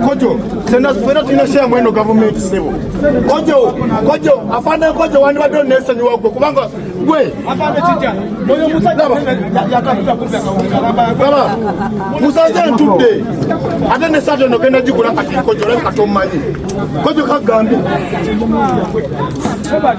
Kojo, sena sifuna tuna share mweno government sebo. Kojo, kojo, afande kojo wani wado nesa ni wako. Kubanga, we. Afande chicha, moyo musa daba. Ya kafuta kumbe kaunga. Baba, musa zan tude. Ate nesa dano kenda jikula kati kojo, lani katomani. Kojo kagambi.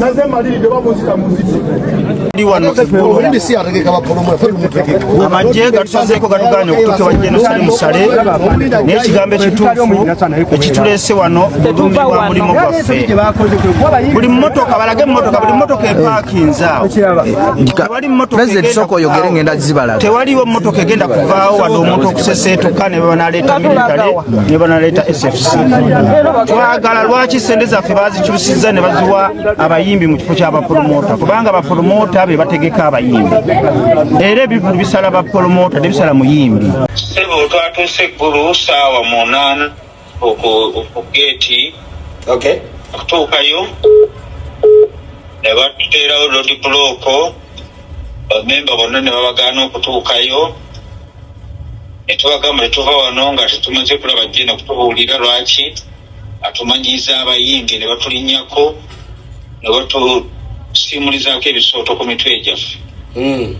naze maliridde bamunzita muziki amagye gatusazeeko gatugaanye okutuuka ewa jenosali musale naye ekigambo ekituufu ekituleese wano bulumi bwa mulimu gwaffe buli mmotoka balage mmotoka buli mmotoka epaakinza awo tewaliwo mmotoka egenda kuvaawo wadde omuntu okuseseetuka ne bwe banaleeta miritale ne banaleeta sfc twagala lwaki sente zaffe bazikyusiza ne baziwa abayimbi mu kifo ky'abapromota kubanga bapromota be bategeka abayimbi era ebivulu bisala bapromota tebisala muyimbi sebo twatuuse eggulu saawa munaana okugeeti okutuukayo ne batuteerawo lodi bulooko bamemba bonna ne babagaana okutuukayo ne tubagamba tetuva wano nga tetumaze kulaba jjena kutubuulira lwaki atumanyiiza abayimbi ne batulinyako ne batusiimulizaako ebisooto ku mitwe gyaffe hmm.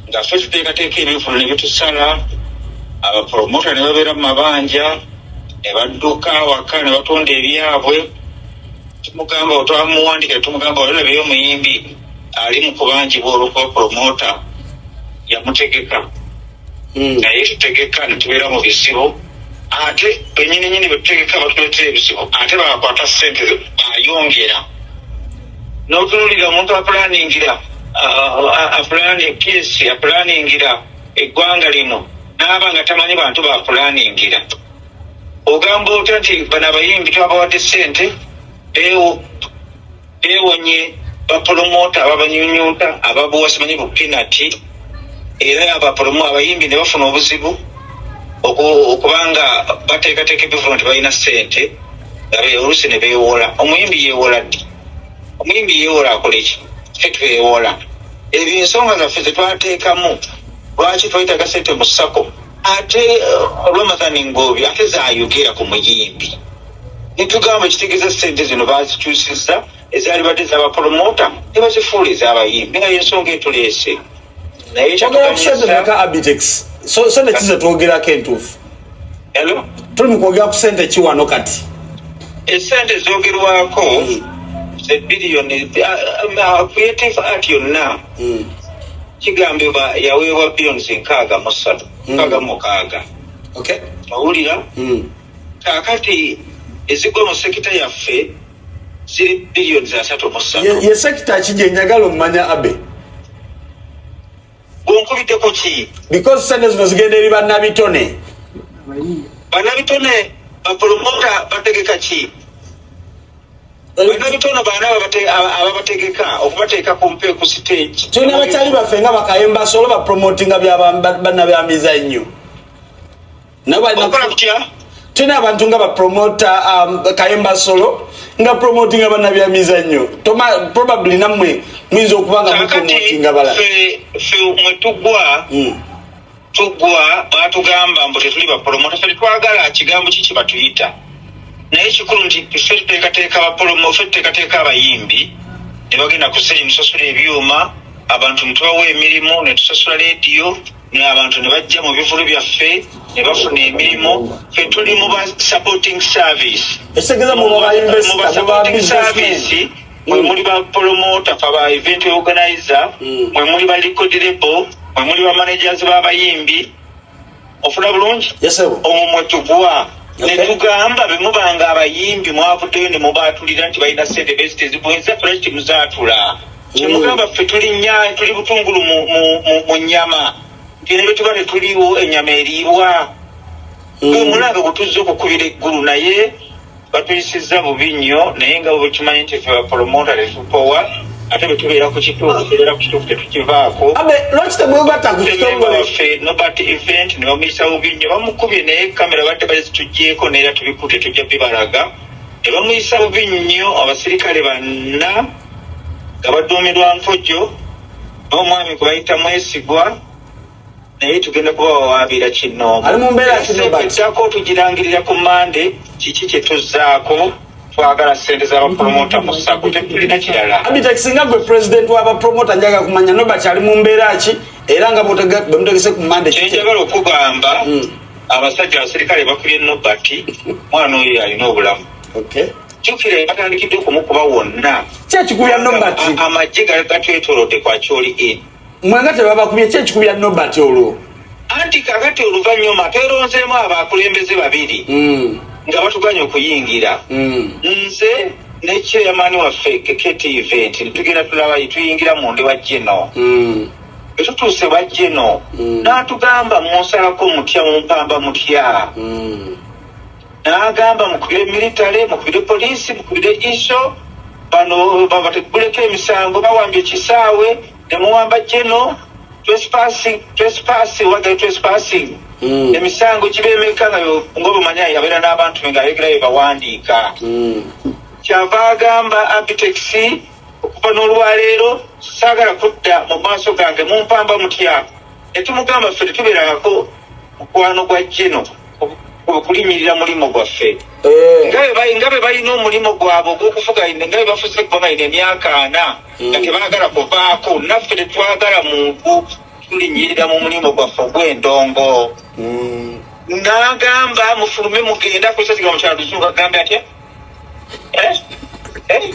nga ffe tuteekateeka ebivulo ne bitusala abapromota ne babeera mu mabanja ne badduka awaka ne batunda ebyabwe tumugamba otwamuwandikira tumugamba olinabeyo omuyimbi ali mu kubanjibwa olwokuba promota yamutegeka hmm. naye tutegeka netubeera mu bizibu ate benyini nyini betutegeka batuletera ebizibu ate bakwata sente bayongera notunulira omuntu apulaningira uh, apulani psi apulaningira eggwanga lino naaba nga tamanyi bantu bapulaningira ogamba otya nti bano abayimbi twabawadde sente ewo bewonye bapolomota ababanyunyuta ababuwa simanyi bupinati era abapolomo abayimbi ne bafuna obuzibu okubanga bateekateeka ebivuno nti balina sente olusi ne bewola omuyimbi yewola ddi omuyimbi yewola akoleki fe twewola ebyo ensonga zaffe zetwateekamu lwaki twetaga sente mu sako ate uh, ramadhan ngobi ate zayogera ku muyimbi nitugamba ekitegeeza sente zino bazikyusizza ezalibadde ezabapolomota nebazifuula ezabayimbi naye ensonga etuleese naye kyatugamaka abitex so nekize twogerako entuufu tuli mukwogera ku sente kiwano kati esente zogerwako zebiliyoni creative art yonna hmm. kigambibwa yaweebwa biliyoni zinkaaga musatu hmm. nkaaga mukaaga owulira hmm. kakati ezigwa mu sekita yaffe ziri biliyoni zasatu musatu ye sekita ki gyenjagala omumanya abe onkubiddeko ki because sente zino zigenda eri bannabitone bannabitone bapolomota bategeka ki bannabitone baana ababategeka okubateeka ku mpe ku siteegi tulina abakyali baffe nga bakayemba solo bapromotinga bannabyamiza ennyo tulina abantu nga bapromota um, kayemba solo nga promotinga bana bya mizanyo probably namwe muyinza okuba nga mupromotinga bala mwetugwa hmm. tugwa batugamba mbu tetuli bapromota fe twagala kigambo kiki batuyita naye kikulu nti fe tuteekateeka bapromo fe tuteekateeka abayimbi ne bagenda kuseri musasula ebyuma abantu netubawa emirimu netusasula lediyo naye abantu ne bajja mu bivulu byaffe ne bafuna emirimu fe tuli mu ba supporting service ekitegeza mu ba supporting service mwe mm. muli ba promoter fa ba event organizer mm. mwe muli ba record label mwe muli ba managers ba bayimbi ofuna bulungi omwo mwe tugwa netugamba bemubanga abayimbi mwavuddeyo ne mubaatulira nti balina sente bezitezibwenza fulashi temuzatula kyemugamba ffe tuli nya tuli butungulu mu, mu, mu, mu nyama tine betuba tetuliwo enyama eriibwa gwe mm. mulanga gutuzza okukubira eggulu naye batuyisiza bubi nnyo naye nga bwekimanyi nti fe bapolomota tetupowa ate bwetubeera ku kituufu tubeera ku kituufu tetukivaako lwaki temwegatta ku kitongole ffe nobert event ne bamuyisa bubi nnyo bamukubye naye kamera badde bali zitugyeko naye era tubikute tujja bibalaga ne bamuyisa bubi nnyo abasirikale banna nga baduumidwa Nkojo n'omwami gwe bayita Mwesigwa naye tugenda kubawawaabira kinnoomuddako tugirangirira ku mande kiki kye tuzzaako twagala sente zabapromota mu sako tetulina kirala singa gwe pulezidenti wabapromota njaga kumanya nobert ali mu mbeera ki era nga bwemutegese ku mande kyenjagala okugamba hmm. abasajja abaserikale bakulye nobert mwana oyo alina obulamu jukira batandikidde okumukuba wonna kyekikubya nobat amagye gatwetolodde kwakyoli in mwanga tebabakubye kyekikubya nobat olwo anti kakati oluvanyuma tweronzeemu abakulembeze babiri hmm. nga batuganya okuyingira hmm. nze ne chairman waffe ktv nti tugenda tulabayi tuyingira mundi wa geno hmm. etutuuse wa geno natugamba munsalako mutya mumpamba mutya n'agamba mukubire militale mukubire poliisi mukubire iso bano babateguleko emisango bawambye ekisaawe nemuwamba jeno twesipasi wagale twesipasi hmm. emisango kibemeka nga ngaobumanyi abeera n'abantu be ngaayogera bye bawandiika hmm. kyava agamba abitex okuva n'olwaleero saagala kudda mu maaso gange mumpamba mutya Netumugamba ffe tetuberangako mukwano gwa jeno okulinyirira mulimu gwaffe eh. nga be balina omulimu gwabwe ogwokufuga nga bebafuze kuba balina emyaka ana hmm. nga tebagala kuvaako naffe tetwagala muntu tulinyirira mu mulimu gwaffe ogwendongo hmm. nagamba mufulume mugenda kusaziga mukyalo tuzuga gambe atya eh? Eh?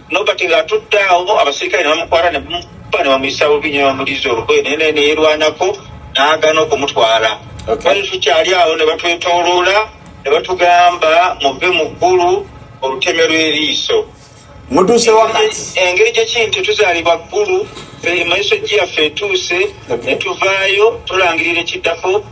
nobert ng'atudde awo abasirikale ne bamukwata ne bamukuba ne bamuyisa bubi nyo bamuliza olugoye naye naye neyerwanako n'agana okumutwala bali tukyali awo ne batwetooloola ne batugamba muve mu ggulu oluteme lw'eriiso mutuuse wakati engeri gye kintu tuzaalibwa ggulu fe emaiso gyeyaffe etuuse ne tuvaayo tulangirira ekiddako